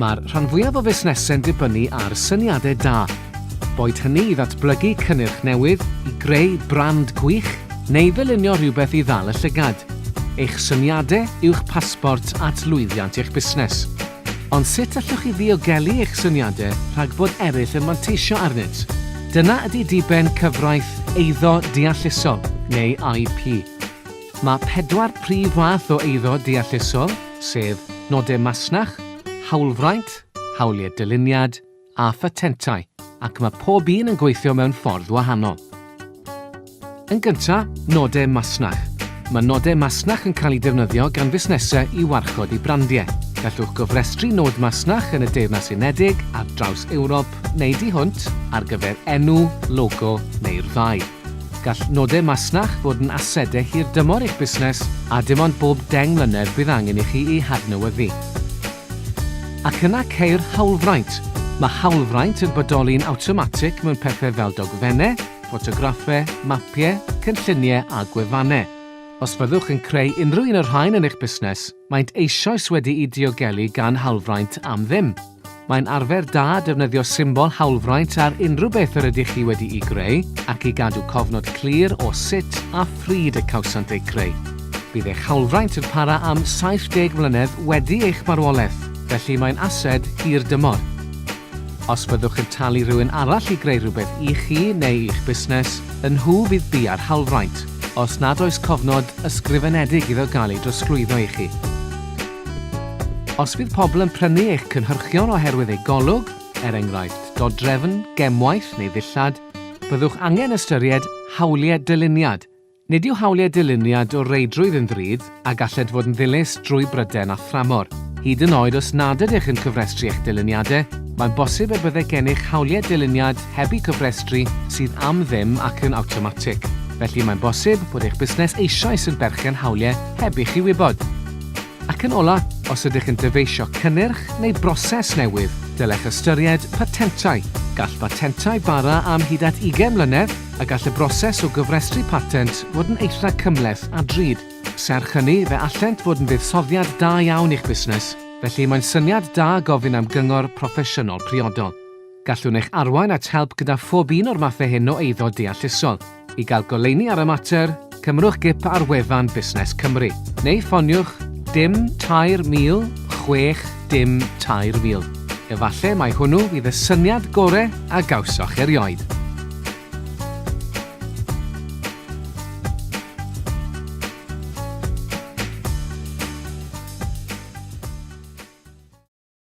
Mae'r rhan fwyaf o fusnesau'n dibynnu ar syniadau da, boed hynny i ddatblygu cynnyrch newydd, i greu brand gwych, neu ddylunio rhywbeth i ddal y llygad. Eich syniadau yw'ch pasbort at lwyddiant eich busnes. Ond sut allwch chi ddiogelu eich syniadau rhag bod eraill yn manteisio arnynt? Dyna ydy diben cyfraith eiddo deallusol, neu IP. Mae pedwar prif fath o eiddo deallusol, sef nodau masnach, hawlfraint, hawliau dyluniad, a phatentau ac mae pob un yn gweithio mewn ffordd wahanol. Yn gyntaf, nodau masnach. Mae nodau masnach yn cael eu defnyddio gan fusnesau i warchod eu brandiau. Gallwch gofrestru nod masnach yn y Deyrnas Unedig, ar draws Ewrop neu di hwnt ar gyfer enw, logo neu'r ddau. Gall nodau masnach fod yn asedau hirdymor eich busnes a dim ond bob deng mlynedd bydd angen i chi eu hadnewyddu. Ac yna ceir hawlfraint. Mae hawlfraint yn bodoli'n awtomatig mewn pethau fel dogfennau, ffotograffau, mapiau, cynlluniau a gwefannau. Os fyddwch yn creu unrhyw un o'r rhain yn eich busnes, maent eisoes wedi'u diogelu gan hawlfraint am ddim. Mae'n arfer da defnyddio symbol hawlfraint ar unrhyw beth yr ydych chi wedi'i greu ac i gadw cofnod clir o sut a phryd y cawsant eu creu. Bydd eich hawlfraint yn para am 70 mlynedd wedi eich marwolaeth, felly mae'n ased hir dymor. Os byddwch yn talu rhywun arall i greu rhywbeth i chi neu i'ch busnes, y nhw fydd bia'r hawlfraint, os nad oes cofnod ysgrifenedig iddo gael ei drosglwyddo i chi. Os bydd pobl yn prynu eich cynhyrchion oherwydd eu golwg, er enghraifft, dodrefn, gemwaith neu ddillad, byddwch angen ystyried hawliau dyluniad Nid yw hawliau dyluniad o reidrwydd yn ddrud a gallent fod yn ddilys drwy bryden a thramor. Hyd yn oed os nad ydych yn cyfrestru eich dyluniadau, mae'n bosib y byddai gennych hawliau dyluniad heb eu cofrestru sydd am ddim ac yn awtomatig. Felly, mae'n bosib bod eich busnes eisoes yn berchen hawliau heb i chi wybod. Ac yn ola', os ydych yn dyfeisio cynnyrch neu broses newydd, dylech ystyried patentau. Gall patentau bara am hyd at ugain mlynedd a gall y broses o gyfrestru patent fod yn eitha' cymhleth a drud. Serch hynny, fe allent fod yn fuddsoddiad da iawn i'ch busnes, felly mae'n syniad da gofyn am gyngor proffesiynol priodol. Gallwn eich arwain at help gyda phob un o'r mathau hyn o eiddo deallusol. I gael goleuni ar y mater, cymrwch gip ar wefan Busnes Cymru, neu ffoniwch dim 3000 chwech dim 3000. Efallai mai hwnnw fydd y syniad gorau a gawsoch erioed.